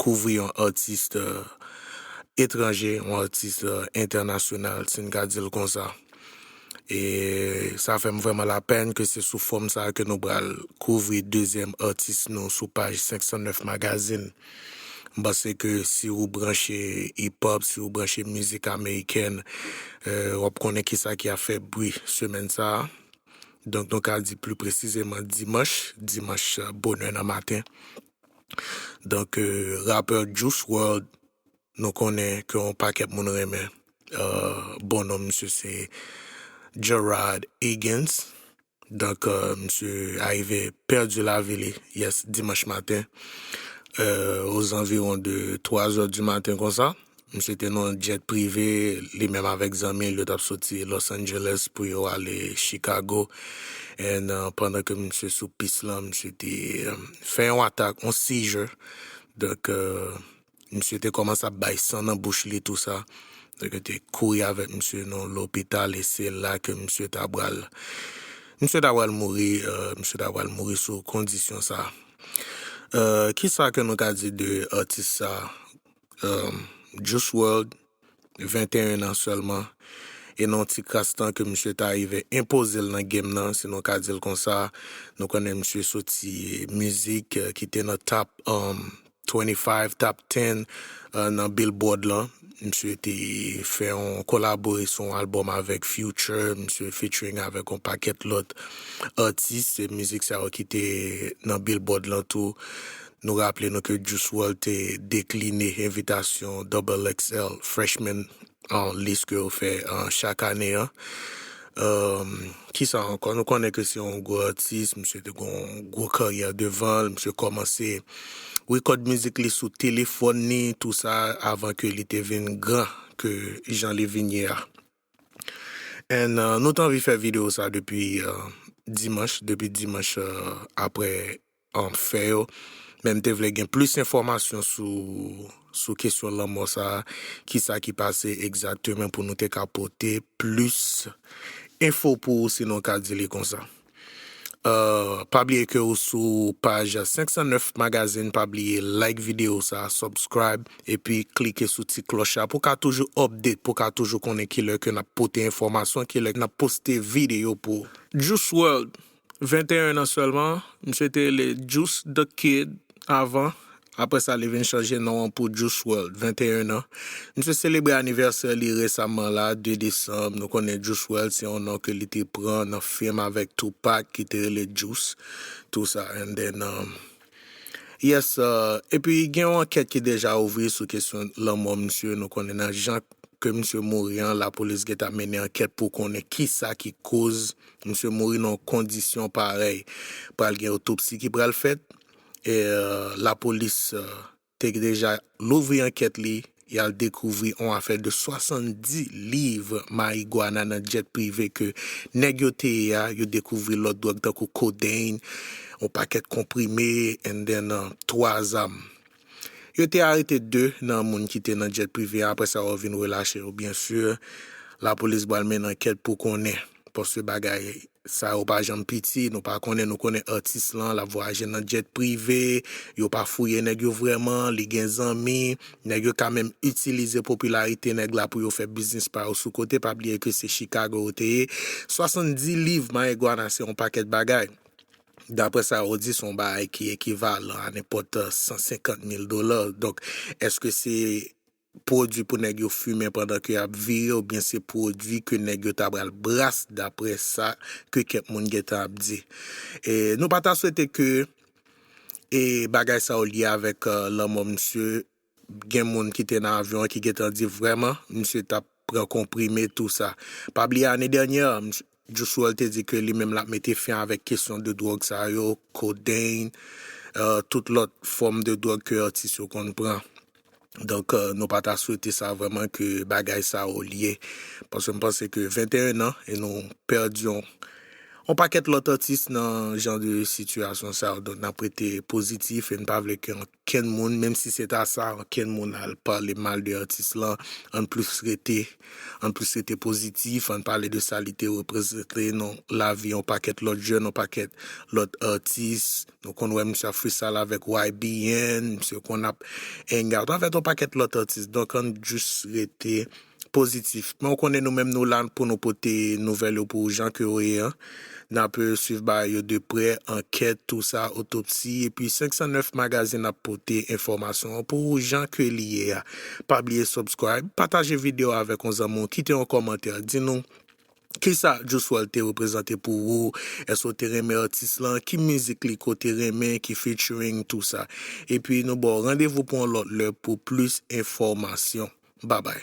kouvri yon atis etranje, yon atis entènasyonal, si n ka di l konsa. E sa fè m vrèman lapèn ke se sou fòm sa ke nou pral kouvri dezyèm atis nou sou paj 509 Magazine. M panse ke si ou branche Hip-Hop, si ou branche mizik amerikèn, w ap konnen kisa ki ap fè bri semèn sa a. Donk nou ka di pli presizeman dimanch, dimanch bonè nan maten. Donk rapè Juice World nou konnen ke yon pakèt moun renmen bon non misye se Gerard Egan's Donk misye arive pèdi lavi li yès dimanch maten o zanviwon de 3 zè di maten konsa Misye te nan yon jet prive, li menm avèk zanmi l yo t ap soti Los Angeles pou yo ale Chicago and pandan ke misye sou pis lan misye te fè yon atak, yon seizure donk misye te kòmanse ap bay san nan bouch li tou sa donk yo te kouri avèk misye nan lopital e se la ke misye ta pral misye ta pral mouri misye ta pral mouri sou kondisyon sa Kisa ke nou ka di de atis sa Juice World, 21 an sèlman, e nan yon ti kras tan ke misye ta rive enpoze l nan game nan, si nou ka di l konsa, nou konnen misye soti mizik ki te nan Top 25, Top 10 nan Billboard lan, misye te fè yon kolabore sou yon album avèk Future, misye featuring avèk yon pakèt lòt atis, se mizik sa yo ki te nan Billboard lan tou. Nou raple nou ke Juice WRLD te dekline envitasyon Double XL Freshman List ke yo fè chak ane an. Kisa ankò? Nou konnen ke se yon gwo atis, misye te gen yon gwo karyè devan l, misye kòmanse rekòd mizik li sou telefòn li, tou sa avan ke li te vin gran ke jan li vin ye a. And nou te anvi fè videyo sa depi dimanch, depi dimanch aprè fè yo, men m te vle gen plis enfòmasyon sou kesyon lanmò sa, kisa ki pase egzaktemen pou nou te ka pote plis enfo pou ou si nou ka di li konsa. Pa bliye ke ou sou paj 509 Magazine, pa bliye like video sa, subscribe epi klike sou ti klòch la pou ka toujou update, pou ka toujou konnen kilè ke nap pote enfòmasyon, kilè nap poste video pou ou. Juice World 21 an sèlman, misye te rele Juice the Kid avan, apre sa li vin chanje non an pou Juice WRLD, 21 an. Misye selebre anivèsè li resamman la, 2 desanm, nou konnen Juice WRLD se yon non ke li te pran nan film avèk Tupac ki te rele Juice, tou sa, and then. Yes epi gen yon ankèt ki deja ouvri sou kesyon lanmò misye nou konnen nan jan ke misye mouri an lapolis gentan mennen ankèt pou konnen kisa ki koz misye mouri nan yon kondisyon parèy pral gen otopsi ki pral fèt e lapolis te deja louvri ankèt li, y al dekouvri on afè de 70 liv marigwana nan djèt prive ke nèg yo te ye a, yo dekouvri lòt dwòg tankou codeine, on pakèt konprime and then 3 zam. Yo te arete 2 nan moun ki te nan djèt prive a, aprè sa yo vin relache yo. Byen sur, lapolis bal mennen ankèt pou konnen, paske bagay Sa yo pa janm piti, nou pa konnen, nou konnen atis lan, lap vwayaje nan jet prive, yo pa fouye nèg yo vrèman, li gen zanmi, nèg yo ka menm itilize popilarite nèg la pou yo fè biznis pa yo sou kote, pa bliye ke se Chicago yo te ye, 70 liv mayeguana se yon pakèt bagay, daprè sa yo di se yon bagay ki ekivalan a nenpòt 150 mil dola, donk eske se. pwodwi pou nèg yo fimen pandan ke yap vire ou byen se pwodwi ke nèg yo ta pral bras dapre sa ke kèk moun gentan ap di. E nou pa ta swete ke e bagay sa yo lye avèk lanmò misye, gen moun ki te nan avyon an ki gentan di vrèman misye tap pran konprime tou sa. Pa bliye ane dènyè, msye Juice WRLD te di ke li menm l ap mete fen avèk kesyon de dwòg sa yo, kodeyn, tout lòt fòm de dwòg ke atis yo konn pran. Donk, nou pa ta swete sa vrèman ke bagay sa yo lye. Paske m panse ke 21 an, e nou pèdi yon pakèt lòt atis nan jan de sitiyasyon sa yo. Donk, n ap rete pozitif e n pa vle ke yon. Kenn moun menm si se ta sa ankenn moun al pale mal de atis lan ann plus rete ann plus rete pozitif ann pale de sa li te reprezante nan lavi yon pakèt lòt jèn yon pakèt lòt atis nou konn wè misye ap freestyle avèk YBN misye konn ap hang out avèk yon pakèt lòt atis donk ann just rete pozitif. Men ou konnen nou menm nou la pou nou pote nouvèl yo pou jan ke yo ye an. Nap swiv bagay yo de prè, ankèt, tou sa, otopsi, epi 509 magazine ap pote enfòmasyon an pou ou jan ke li ye a. Pa bliye subscribe, pataje video a avèk yon zanmi w, kite yon kòmantè, di nou kisa Juice WRLD te reprezante pou ou, èske ou te renmen atis lan, ki mizik li ke w te renmen, ki featuring, tou sa. Epi nou ba w randevou pou yon lòt lè pou plis enfòmasyon. Babay.